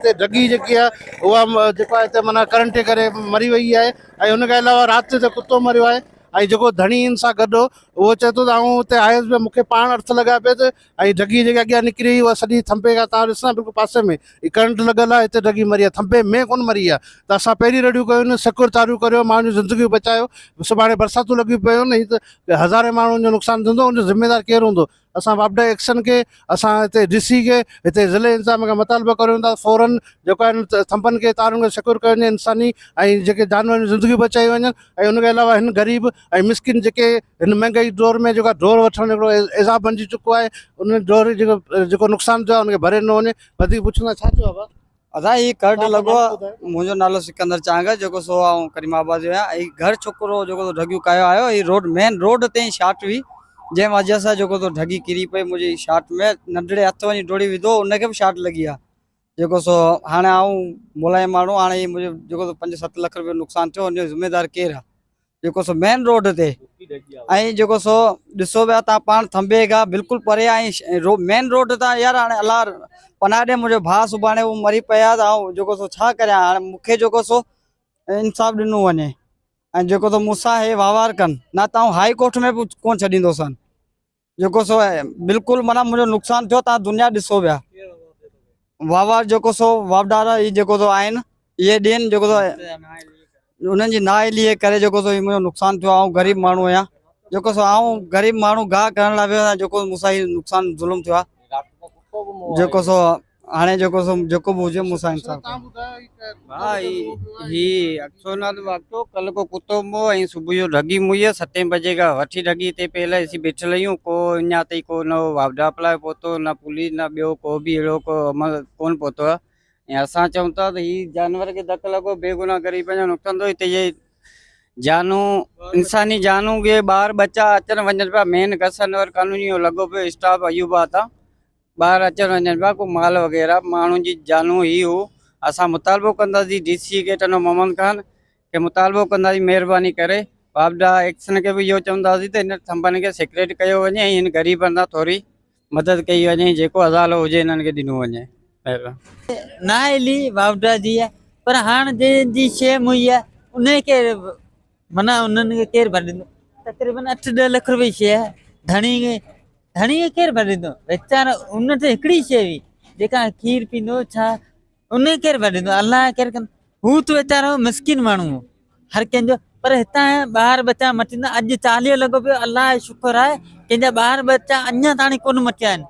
هتي ڍڳي جيڪي آهي اها جيڪو آهي هتي معنيٰ ڪرنٽ جي ڪري مري وئي آهي ۽ ان کان علاوه رات جو هتي ڪتو مريو آهي ۽ جيڪو ڌڻي ان سان گڏ هو اهو چئي ٿو ته آئون هتي آيس به مون کي پاڻ ارٿ لڳا پئي ته ۽ ڍڳي جيڪا اڳيان نڪري وئي اها سڄي ٿنڀي کان تان ڏسان بلڪل پاسي ۾ هي ڪرنٽ لڳل آهي هتي ڍڳي مري آهي ٿنڀي ۾ ڪونه مري آهي ته اسان پهرين رڙيون ڪيون آهن شڪر تاريون ڪريو ماڻهن جون زندگيون بچايو سڀاڻي برساتون لڳيون پيون آهن هي ته هزارين ماڻهن جو نقصان ٿيندو ان جو ذميوار ڪير هوندو اسان واپڊا ايڪشن کي اسان هتي ڊي سي کي هتي ضلعي انتظاميه کان مطالبو ڪريون ٿا فورن جيڪو آهي ان ٿنڀن کي تارن کي سڪيور ڪيو وڃي انساني ۽ جيڪي جانورن جون زندگيون بچايون وڃن ۽ ان کي علاوه هن غريب ۽ مسڪين جيڪي هن مهنگائي دور ۾ جيڪا ڍور وٺڻ هڪڙو عذاب بنجي چڪو آهي ان ڍور جيڪو جيڪو نقصان ٿيو آهي ان کي ڀري ڏنو وڃي وڌيڪ پڇوندا ڇا ٿيو آهي بابا ادا هي گهر ڊه لڳو آ منهنجو نالو سڪندر چانگ آ جيڪو سو آئون ڪريم آباد جو آهيان هي گهر ڇڪرو جيڪو سو ڍڳيو ڪايو آيو هي روڊ مين روڊ تي شاٽ هئي جنهن وجه سان جيڪو سو ڍڳي ڪري پئي منهنجي شاٽ ۾ ننڍڙي هٿ وڃي ڊوڙي وڌو ان کي به شاٽ لڳي آ جيڪو سو هاڻي آئون ملائم ماڻهو هاڻي هي منهنجو جيڪو سو پنج ست لک رپيو نقصان ٿيو ان جو ذميدار ڪير آ جيڪو سو مين روڊ تي ۽ جيڪو سو ڏسو پيا تان پاڻ ٿنبي کان بلڪل پري آهي مين روڊ تان يار هاڻي الله پناهه ڏي منهنجو ڀاء سڀاڻي هو مري پيا ته آئون جيڪو سو ڇا ڪريان هاڻي مونکي جيڪو سو انصاف ڏنو وڃي ۽ جيڪو سو مون سان هي وهنوار ڪن نه ته آئون هائي ڪورٽ ۾ به ڪونه ڇڏيندوسان جيڪو سو بلڪل معنيٰ منهنجو نقصان ٿيو تان دنيا ڏسو ويا واوا جيڪو سو واپڊارا هي جيڪو سو آهن اهي ڏين جيڪو سو انهن جي نااهلي جي ڪري جيڪو سو هي منهنجو نقصان ٿيو آئون غريب ماڻهو آهيان جيڪو سو آئون غريب ماڻهو گاهه ڪرڻ لاء ويو آهيان جيڪو مون سان هي نقصان ظلم ٿيو آهي جيڪو سو هاڻي جيڪو سو جيڪو به هجي مون سان انصاف ڪيو. ڀائي هي اڪسو نه تو اڪسو ڪل ڪو ڪتو مو ۽ صبح جو ڍڳي مو هي ستين بجي کان وٺي ڍڳي تي پيل اسين بيٺل هيون ڪو اڃا تائين ڪو نه واپڊا اپلاء پهتو نه پوليس نه ٻيو ڪو به اهڙو ڪو عمل ڪون پهتو آهي ۽ اسان چئون ٿا ته هي جانور کي ڌڪ لڳو بي گناهه غريبن جو نقصان ٿو هتي جي جانون انساني جانون بي ٻار ٻچا اچن وڃن پيا مين گسن ور قانوني لڳو پيو اسٽاف ايوب آتا ٻاهر اچڻ وڃڻ پيا ڪو مال وغيره ماڻهن جي جانون هي هو اسان مطالبو ڪنداسي ڊي سي کي ٽنو محمد خان کي مطالبو ڪنداسي مهرباني ڪري واپڊا ايڪسن کي به اهو چونداسي ته هن ٿنڀن کي سيڪريٽ ڪيو وڃي ۽ هن غريبن سان ٿوري مدد ڪئي وڃي ۽ جيڪو ازالو هجي هنن کي ڏنو وڃي مهرباني. نااهلي واپڊا جي پر هاڻ جنهن جي شيء مهيا انهي کي منهن انهن کي ڪير ڀر ڏيندو؟ تقريبن اٺ ڏهه لک روپيه شيء ڌڻي کي ڌڻي کي ڪير ڀر ڏيندو؟ ويچار ان تي هڪڙي شيء هئي جيڪا کير پيندو ڇا ان کي ڪير ڀر ڏيندو؟ الله ڪير ڪن هو ته ويچارو مسڪين ماڻهو هو هر ڪنهن جو پر هتان ٻار ٻچا مٽيندا اڄ چاليهو لڳو پيو الله جو شڪر آهي ڪنهن جا ٻار ٻچا اڃا تاڻي ڪونه مٽيا آهن.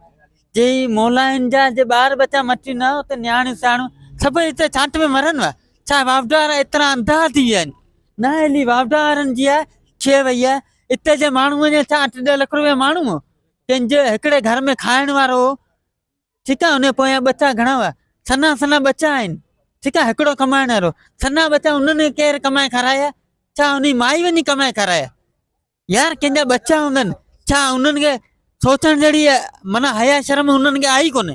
جي مولائن جا جي ٻار ٻچا مٽي نه ته نياڻيون سياڻيون سڀئي اتي ڇانٽ ۾ مرن وا ڇا واوڊا وارا ايترا انڌا ٿي ويا آهن نه هيلي واوڊا وارن جي آهي ڇي وئي آهي اتي جي ماڻهو وڃي ڇا اٺ ڏهه لک روپيا ماڻهو هو ڪنهن جي هڪڙي گهر ۾ کائڻ وارو هو ٺيڪ آهي ان پويان ٻچا گهڻا هئا سنا سنا ٻچا آهن ٺيڪ آهي هڪڙو ڪمائڻ وارو سنا ٻچا انهن کي ڪير ڪمائي کارايا ڇا انهي مائي وڃي ڪمائي کارايا يار ڪنهن جا ٻچا هوندن ڇا انهن کي سوچڻ جهڙي معنيٰ حيا شرم انهن کي آهي ئي ڪونه.